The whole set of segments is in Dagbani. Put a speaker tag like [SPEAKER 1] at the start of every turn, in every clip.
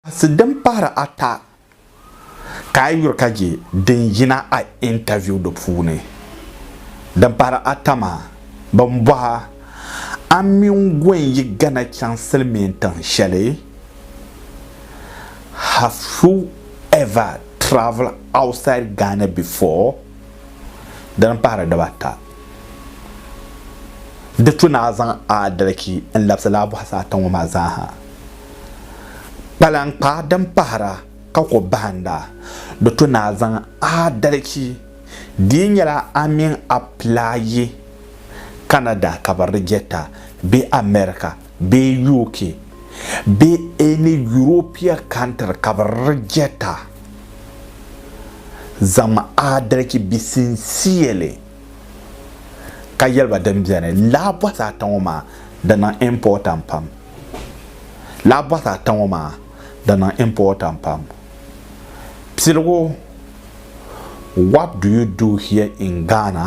[SPEAKER 1] Kasi din pahiri ata ka a yuri ka je din yina a interview di puuni. Din pahiri ata maa, bɛn bɔh a, A mini Gwen yi Ghana chaŋ silimiin tiŋ shɛli? Have you ever travel outside Ghana before? Dini pahiri dibata. Di tu ni a zaŋ a adalchi n-labisi laa bɔhisi ata ŋɔ maa zaa ha. Kpalaŋkpa din pahira ka ku bahinda, di tu ni a zaŋ a adalchi. Di yi nyɛla a mini a pila yi Canada ka bɛ di jɛta bee America, bee UK bee any Europea country ka bi rejecta zaŋm adalchi be sincerely ka yɛli ba din beni laa bɔhisi ata ŋɔ maa di niŋ important pam laa bɔhisi ata ŋɔ maa di niŋ important pam piligu what do you do here in Ghana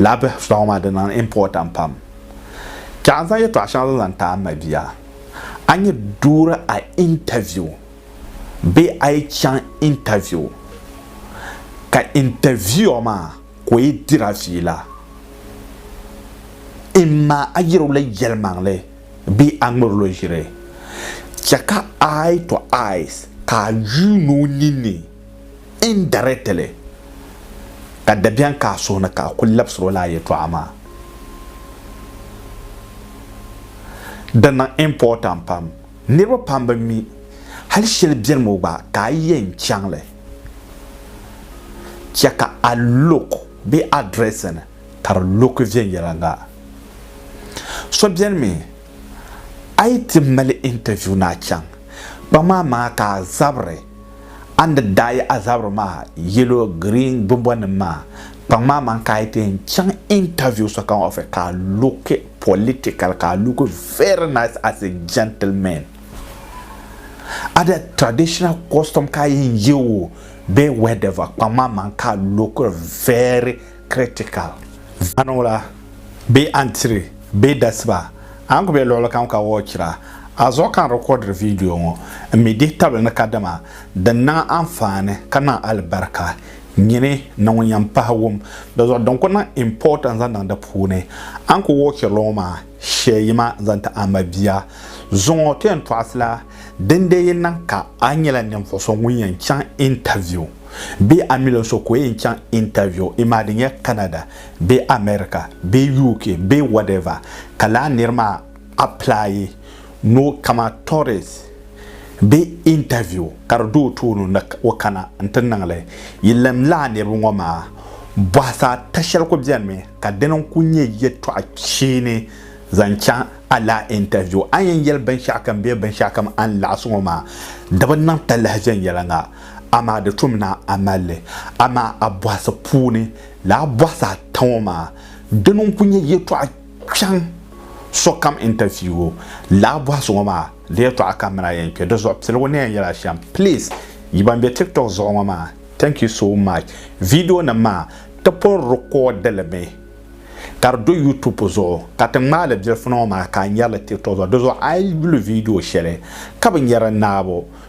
[SPEAKER 1] Laa bihi fita ŋɔ maa di niŋ important pam. Ka n zaŋ yɛltɔɣa shɛŋa zaŋ zaŋ taai ma bia. A ni duuri a interview bee a yi chaŋ interview ka interviewer maa ka o yi diri a fiila imma a yiri o la yɛlimaŋli bee a ŋmiri lo ʒiri chɛ ka eye to eyes ka a yuun o ninni indirectly, ka dabiɛm ka a suhu ni ka a kul labisir o la a yɛtɔɣa maa. Di niŋ important pam. Niriba pam bi mi hal shɛli beni ŋɔ gba ka a yɛn chaŋ li, chɛ ka a look bee a dressing ka di look viɛnyɛliŋga. So beni mi a yi ti mali interview ni a chaŋ kpaŋ maa maŋa ka a zabiri a ni daa yi a zabiri maa yellow green gbunbɔnim maa kpaŋ maa man ka a yi ti yɛn chaŋ interview sokam office ka a look political ka a look very nice as a gentleman a di traditional costume ka a yɛn ye o bee whatever kpaŋ maa man ka a look very critical. Zanwula bee antiri bee dasiba a ni ku be luɣili kam ka wɔɔchira a zuɣu ka n rikɔdiri viidiyo ŋɔ m-mi dihi tabili ni kadama din niŋ anfaani ka niŋ alibarika nyini ni ŋun yɛn pahi wum di zuɣu din ku niŋ import n-zaŋ niŋ di puuni. A ni ku wɔɔchiri li ŋɔ maa shɛli yima n-zaŋ ti a mabia zuŋɔ ti yɛn tɔɣisila dindee yi niŋ ka a nyɛla ninvuɣ so ŋun yɛn chaŋ interview. Bee a mil o so ka o yɛn chaŋ interview, imaa di nyɛ Canada bee America bee UK bee whatever, ka lala nir maa apply ni o kama tourist bee interview ka di do o tooni ni o kana n-ti niŋ li. Yi lɛm lala niriba ŋɔ maa, bɔhisa ata shɛli ku benimi ka dini n-kul nyɛ yɛtɔɣ kpeeni zaŋ chaŋ a lala interview. A ni yɛn yɛli binshɛɣukam bee binshɛɣukam a ni laɣis ŋɔ maa, di bi niŋ talahi viɛnyɛliŋga. amaa di tum ni a mali li. Amaa a bɔhisi puuni lala bɔhisi ata ŋɔ maa, dini n-kul nyɛ yɛtɔɣ kpɛŋ sokam interview lala bɔhisi ŋɔ maa di yɛtɔɣa ka mini a yɛn kpe di zuɣu piligu ni yɛn yɛl a shɛm. Please yi ban be tiktok zuɣu ŋɔ maa thank you so much videonim maa ti pun record li mi ka di do youtube zuɣu ka ti ŋmaai li bilifuni ŋɔ maa ka a nyari li tiktok zuɣu di zuɣu a yi yuli video shɛli ka bi nyari naabo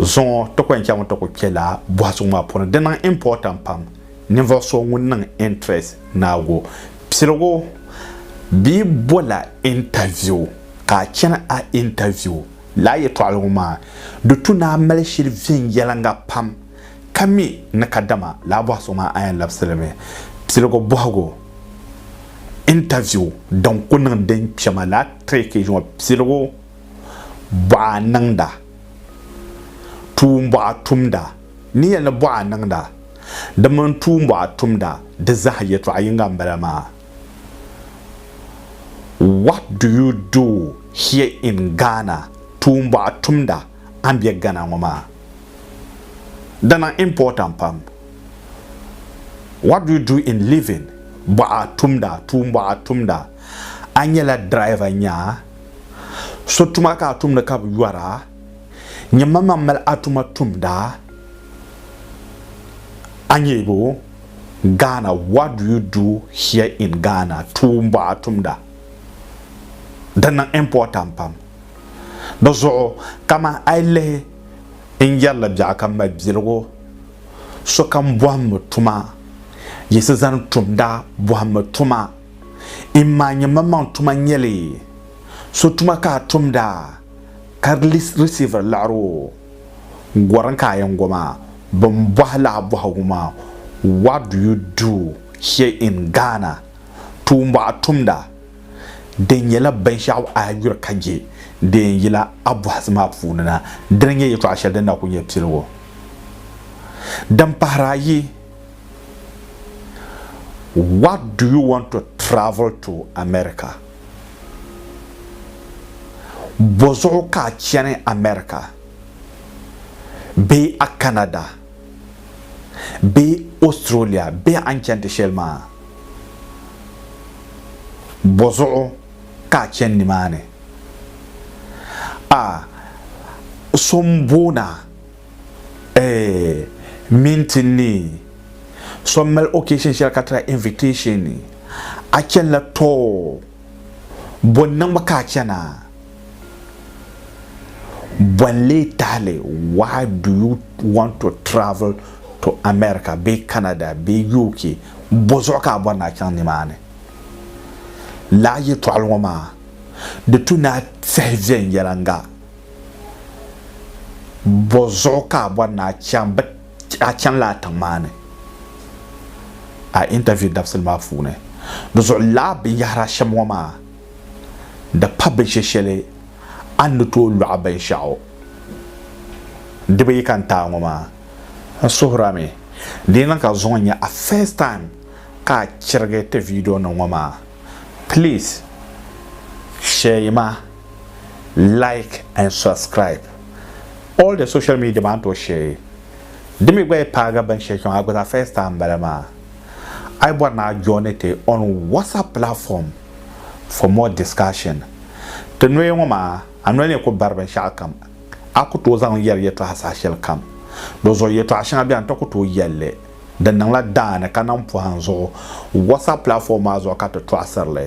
[SPEAKER 1] Zuŋɔ ti ko n-chaŋ ti ku kpe laa bɔhisuŋ maa puuni. Di niŋ important pam ninvuɣ so ŋun niŋ interest naagu piligu bee bola interview ka a chani a interview laa yɛtɔɣili ŋɔ maa di tu ni a mali shili viɛnyɛliŋga pam ka mi ni kadama laa bɔhisuŋ maa a yɛn labisi li mi. Piligu bɔhigu, interview, din ku niŋ din kpɛma laa trick ŋɔ piligu. bɔɣa niŋda, tuumbɔɣa tumda. N ni yɛli ni bɔɣa niŋda, di mini tuumbɔɣa tumda, di zaa yɛtɔɣa yiŋga m-bala maa. What do you do here in Ghana? Tuumbɔɣa tumda, a ni be Ghana ŋɔ maa. Dina important pam. What do you do in living? Bɔɣa tumda, tuumbɔɣa tumda. A nyɛla driver nyaa? So tuma ka a tumdi ka bi yɔra? Nyɛmmaŋmaŋ mali a tuma tumda? Anyebo, Ghana, What do you do here in Ghana? Tuumbuɣa tumda. Di niŋ important pam. Di zuɣu kamani a yi lihi n yɛrili biɛɣu ka mali biligu, sokam bɔhimmi tuma, yiɣisi zani tumda bɔhimmi tuma. Imaa nyɛ maŋmaŋ tuma nyɛli so tuma ka a tumda ka di risiiviri liɣiri o gorin ka a yɛn go maa bɛn bɔhi li a bɔhigu maa What do you do here in Ghana? Tuumbuɣu a tumda di nyɛla binshɛɣu a yuri ka je di yɛn yila a bɔhisi maa puuni na dini nyɛ yɛtɔɣa shɛli din na kuli nyɛ piligu din pahiri ayi. What do you want to travel to America? Bɔzuɣu ka a chani America bee a Canada bee Australia bee a ni chani ti shɛli maa? Bɔzuɣu ka a chani nimaani? A, so m-booni a Eeh mintin ni so mali occasion shɛli ka tila invitation a chanila too boni ni ŋba ka a chana bɔn lee tahili why do you want to travel to America bee Canada bee UK bɔzuɣu ka a bɔri ni a chaŋ nimaani lala yɛtɔɣili ŋɔ maa di tu ni a tiɛhi viɛnyɛliŋga. Bɔ zuɣu ka a bɔri ni a chaŋ bɛ a chani laa tiŋ maa ni a interview dabisili maa puuni di zuɣu laa binyɛhiri a shɛm ŋɔ maa di pa binshɛ shɛli a ni tooi lɔɣi binshɛɣu di bi yi ka n taai ŋɔ maa n suhiri a mi di yi niŋ ka zuŋɔ nyɛ a first time ka a chirigi ti video nim ŋɔ maa please shɛyi ma like and subscribe all the social media maa n tooi share di mi gba yi paagi binshɛli kpɛŋɔ a gba zaa first time bala maa a yi bɔri ni a joini ti on whatsapp platform for more discussion ti noya ŋɔ maa a noli ni ku bari binshɛɣu kam a ku tooi zaŋ yɛri yɛtɔɣa saha shɛli kam di zuɣu yɛtɔɣa shɛŋa bɛ a ni ti ku tooi yɛli li di niŋla daani ka niŋ pɔhim zuɣu whatsapp platform maa zuɣu ka ti tɔɣisiri li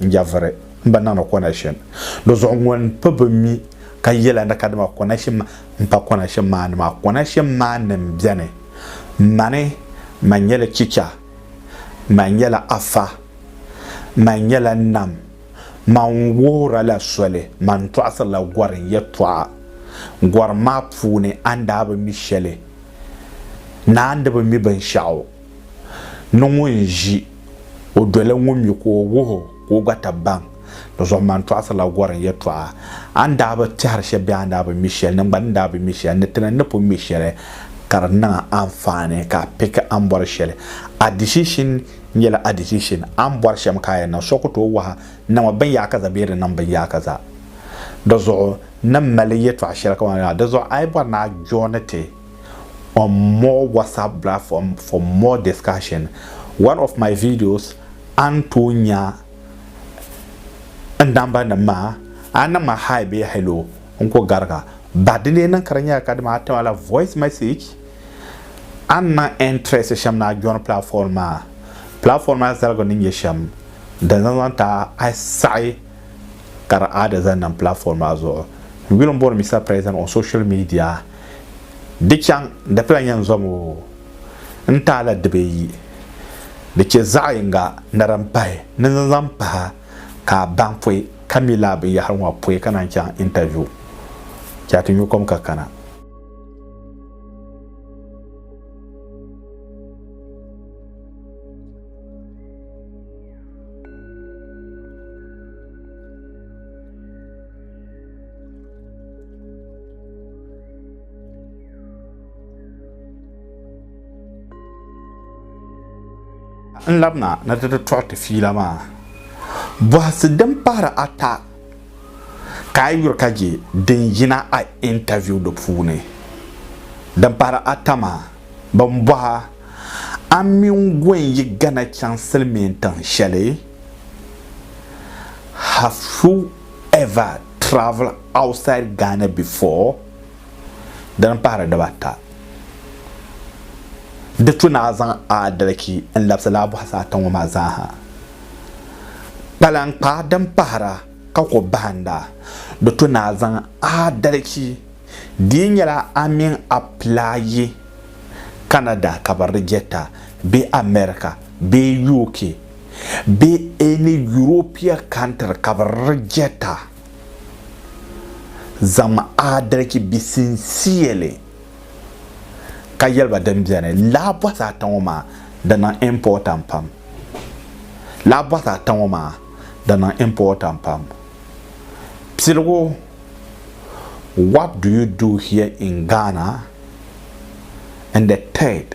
[SPEAKER 1] N-yaviri m ba niŋdi konɛkshin di zuɣu ŋun pi bi mi ka yɛla ni kadama konɛkshin maa m-pa konɛkshin maa ni maa. Konɛkshin maa ni m-beni mani man nyɛla chicha, man nyɛla afa, man nyɛla nam, man wuhiri la soli, man tɔɣisiri la gɔri n yɛtɔɣa. Gɔri maa puuni a ni daa bi mi shɛli, ni a ni bi mi binshɛɣu. ni ŋun ʒi o doli ŋun mi ka o wuh o ka o gba ta baŋ ni Zɔhimani tɔɣisirila gɔrim yɛtɔɣa. A ni daa bi tɛhiri shɛli bee a ni daa bi mi shɛli, niŋgban ni daa bi mi shɛli ni ti ni ni pun mi shɛli ka di niŋ a anfaani ka a piki a ni bɔri shɛli. A decision nyɛla a decision. A ni bɔri shɛm ka a yɛn niŋ, so ku tooi wahi n niŋmi binyaakaza bee di niŋ binyaakaza. Di zuɣu, n ni mali yɛtɔɣ shɛli kamani la, Di zuɣu a yi bɔri ni a jooni ti. on more WhatsApp platform for more discussion. One of my videos an tooi nya n namba nim maa a niŋ ma hi bee hello n ko gariga ba di lee niŋ ka di nyɛla ka di maa ti ma la voice message a ni niŋ interest shɛm ni a join platform maa platform maa zaligu ni nyɛ shɛm din zaŋ zaŋ ti a saɣi ka di aadi zaŋ niŋ platform maa zuɣu n yuli n bɔri Mister President on social media Di chaŋ di pila nyan zom o n taai la dibi yi. Di chɛ zaɣ yiŋga ni din pahi ni n zaŋ pahi ka a baŋ pɔi ka mi lala binyɛhiri ŋɔ pɔi ka naan chaŋ interview. Chɛ a ti nyu kom ka kana. n labina na ti tɔɣi ti fiila maa bɔhisi din pahiri ata ka a yuri ka je din yina a intaviu di puuni din pahiri ata maa bin bɔha a mini gun yi gana chaŋ silimiin tiŋ shɛli have you ever travel outside Ghana before dini n pahiri diba ata di tu naa zaŋ aadalki n labisi laa buhisi ata ŋɔ maa zaa ha kpalankpa din pahira ka ko bahinda di tu naa zaŋ aadalki di nyɛla a min a plaayi Canada ka bi rijɛta bee America bee UK be any European country ka be rejecta zaŋm aadalichi be sincerely ka yeli ba din beni laa bɔhisi ata ŋɔ maa di niŋ important pam laa bɔhisi ata ŋɔ maa di niŋ important pam piligu what do you do here in Ghana and the third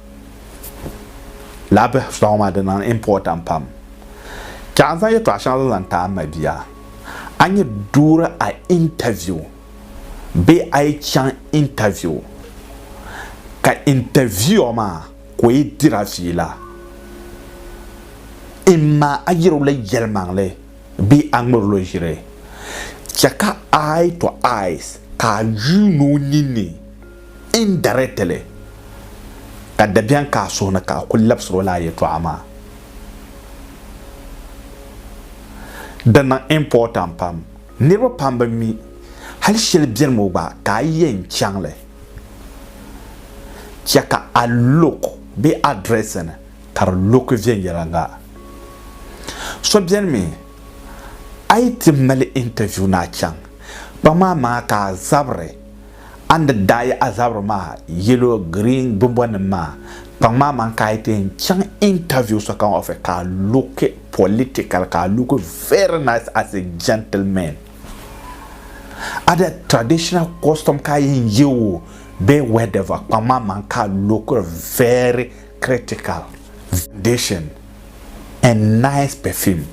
[SPEAKER 1] Lala bihi suahu maa di niŋ important pam. Ka a zaŋ yɛltɔɣa shɛŋa zaŋ ti a mabia, a ni yɛn duuri a interview bee a yi chaŋ interview ka interviewer maa ka o yi diri a fiila, imma a yɛri o la yɛlimaŋli bee a ŋmɛri o la ʒiri, chɛ ka eye to eyes ka a yuun o ninni. indirectly ka dabiɛm ka a suhu ni ka a kul labisir o la a yɛtɔɣa maa. Di niŋ important pam. Niriba pam bi mi hal shɛli beni ŋɔ gba ka a yɛn chaŋ li, chɛ ka a look bee a dressing ka di look viɛnyɛliŋga. So beni mi a yi ti mali interview ni a chaŋ kpaŋ maa maa ka a zabiri A ni daa yi a zabiri maa yellow, green bimbɔnim maa kpaŋ maa man ka a yi ti yɛn chaŋ interview sokam office ka a looki political ka a looki very nice as a gentleman. A di traditional costume ka a yɛn ye o bee whatever kpaŋ maa man ka a lookiri very critical. Foundation and nice perfume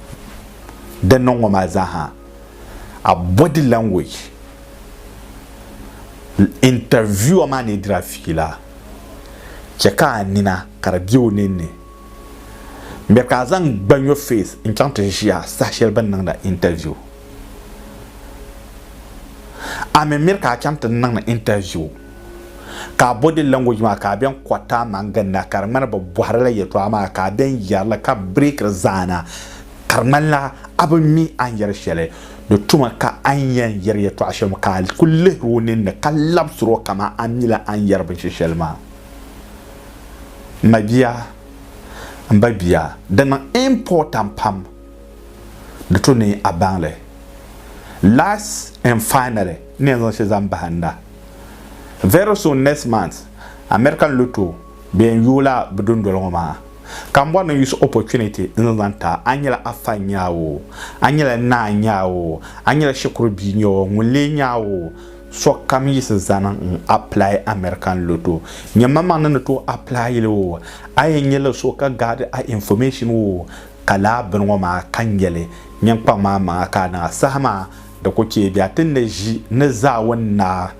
[SPEAKER 1] din niŋ ŋɔ maa zaa ha a body language Interviewer maa ni diri a fiila, chɛ ka a nina ka di be o ninni. N be ka a zaŋ gbanyo face n-chaŋ ti ʒi a saha shɛli bɛ ni niŋd a interview. A mi miri ka a chaŋ ti niŋ interview, ka a body language maa ka a ben kɔriti a maŋ ginda ka di ŋmani bɛ bɔhiri la yɛtɔɣa maa ka a ben yɛri li ka break li zaana ka di ŋmanila a bi mi a ni yɛri shɛli. Di tuma ka a ni yɛn yɛri yɛtɔɣ shɛm ka a ku lihir o ninni ka labisir o kaman a ni mila a ni yɛri binshɛ shɛli maa. M mabia, m babia, di niŋ important pam di to ni a baŋ li. Last and finally, n ni yɛn zaŋ shɛli zaŋ bahi n na. Very soon next month, American Lotto, Bɛn yooi la bɛ dundoli ŋɔ maa ka m bɔri ni n use opportunity n zaŋ zaŋ ti a, a nyɛla a fa n nyɛ a oo, a nyɛla n naa n nyɛ a oo, a nyɛla shikuru bia n nyɛ oo, ŋun lee nyɛ a oo, sokam yiɣisi zani n apply American lotto, nyɛmmaŋmaŋ ni ni tooi apply li oo, a yɛn nyɛ li so ka gaadi a information oo, ka laa bini ŋɔ maa ka n yɛli, nyin kpaŋ maa maŋa ka a niŋ a saha maa di ku chɛ bɛ a ti ni ʒi ni zaawuni naa.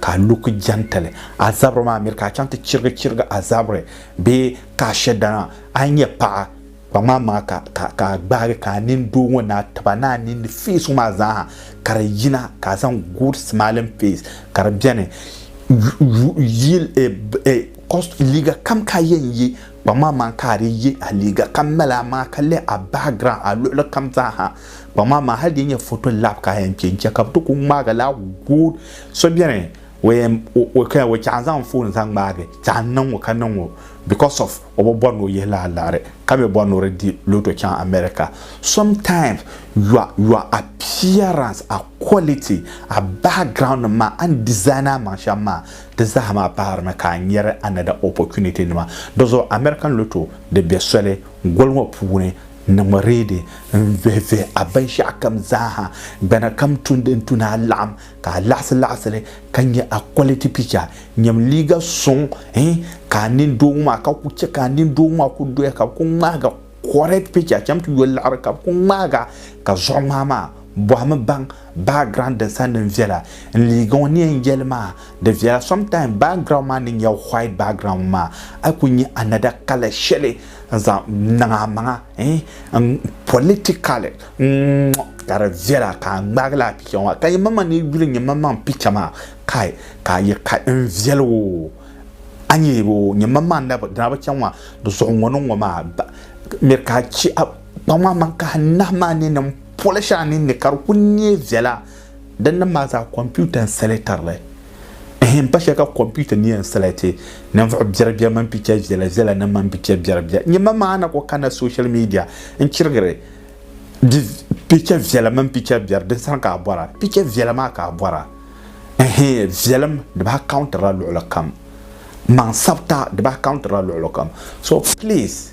[SPEAKER 1] Ka a lu ki jɛntili a zabiri maa miri ka a chaŋ ti chirigi chirigi a zabiri bee ka a shɛ dana a ni nyɛ paɣa, kpaŋ maa maŋa ka, ka, ka a gbaagi ka a nini doo ŋɔ naa tiba ni a ninni face ŋɔ maa zaaha ka di yina ka a zaŋ good smiling face ka di beni yu, yu, yu, cost, liiga kam ka a yɛn ye kpaŋ maa maŋa ka a di ye a liiga kam mali a maŋa ka lɛh a background a luɣili kam zaaha. Kpaŋ maa maa hali di nyɛ foto lab ka a yɛn kpɛ n-chɛ ka bɛ ti ku ŋmaag a laa good so beni o yɛn o kaya o chɛ a zaŋ n foon zaŋ ŋmaagi chɛ a niŋ o ka niŋ o because of o bi bɔri ni o yihi la a liɣiri ka mi bɔri ni o di di loto chaŋ America sometimes your your appearance a quality a background nim maa a ni design a maŋ shɛm maa di zaa maa pahiri ni ka a nyari another opportunity nima di zuɣu American loto di be soli goli ŋɔ puuni Niŋmi reedi n-vihi vihi a binshɛɣu kam zaaha, gbana kam tun din tu ni a laɣim ka a laɣisi laɣisi li ka nya a quality picture, nyam liiga suŋ hi ka a nini doogi maa ka ku chɛ ka a nini doogi maa ku doya ka bɛ ku ŋmahiga correct picture cham ti yo liɣiri ka bɛ ku ŋmahiga ka zuɣuŋmahi maa bɔhimi baŋ background din sa niŋ viɛla n-liiga ŋɔ ni yɛn yɛli maa di viɛla sometime background maa ni nyɛ white background maa a ku nya another colour shɛli n zaŋ niŋ a maŋa politikali ka di viɛla ka a ŋmaagi laa picha ŋɔ ka yi mama ni yi yuli nyɛ mamaŋ picha maa kai ka a yɛ ka n viɛli o a nyɛ o nyɛ mamaŋ na dina bi chɛŋ maa di zuɣu ŋɔ ni ŋɔ maa mɛ ka a chɛ a kpaŋ maa maŋ ka a nahi maa ni ni n poli shɛli a ninni ka di ku nyɛ viɛla Din nim maa zaa kɔmputa n sɛlɛtirili. Ehem pa shɛli ka kɔmputa ni yɛn sɛlɛti ninvuɣu biɛribiɛri mini picha viɛla viɛla nim mini picha biɛribiɛri. Nyɛma maa na ku kanila social media n chirigiri di picha viɛla mini picha biɛri din sani ka a bɔra. Picha viɛla maa ka a bɔra. Ehem viɛlim di bi accountirila luɣuli kam. Maŋ sabita di bi accountirila luɣuli kam. So please.